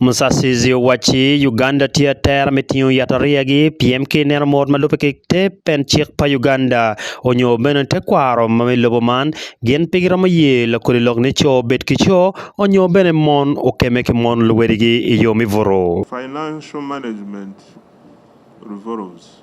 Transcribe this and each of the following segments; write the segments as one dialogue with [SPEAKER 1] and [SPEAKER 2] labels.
[SPEAKER 1] Musasizi owacci
[SPEAKER 2] Uganda tye atera me tingo yatariya-gi piem ki ineno mot ma lubbe ki te pen cik pa Uganda onyo bene tekwaro ma me lobo man gin pe giromo ye lakodi lok ni co obed ki co onyo bene mon okeme ki mon luwedigi i yo me butu. Financial
[SPEAKER 3] Management Reforms.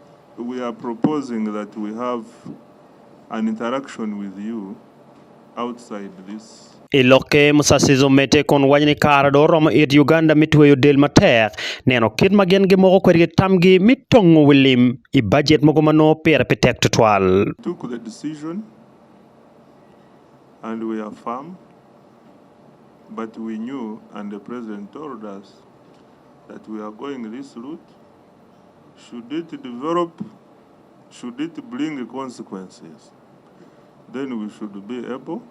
[SPEAKER 3] We are proposing that we have an interaction with you outside this. I lokke, Musasizi
[SPEAKER 2] omedde kun waco ni kare dong oromo it Uganda me tweyo del matek neno kit ma gin gimoko kwede ki tamgi me tongo wi lim i bajet mogo ma nongo pire pe tek tutwal. took the decision
[SPEAKER 3] and we are firm but we knew and the President told us that we are going this route. Should it develop, should it bring consequences, then we should be able,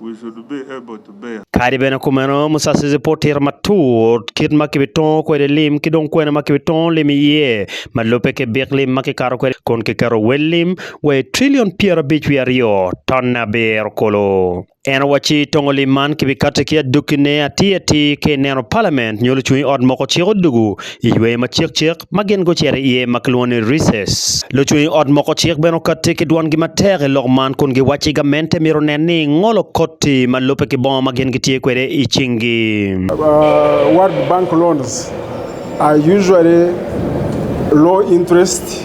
[SPEAKER 3] we should be able to bear. Kadi bene kumeno,
[SPEAKER 2] Musasizi pud tito matut kit ma kibitongo kwede lim ki dong kwena ma kibitongo lim iye, ma lubbe ki bik lim ma kikato kwede kun kiketo wel lim wa i trillion pyerabic wiye aryo ton abiro kulu. En owacci tongo lim man kibikatte ki adokkine atir atir ka ineno palament nyo lucung i ot moko ciko dugu i yweyo ma cikcik ma gin gucito iye ma kilwongo ni recess. Lucung i ot moko cik bene okatte ki dwongi matek i lok man kun giwacci gamente myero onen ni ngolo koti ma lubbe ki bongo ma gin gitye kwede i cingi. World
[SPEAKER 4] Bank loans are usually low interest.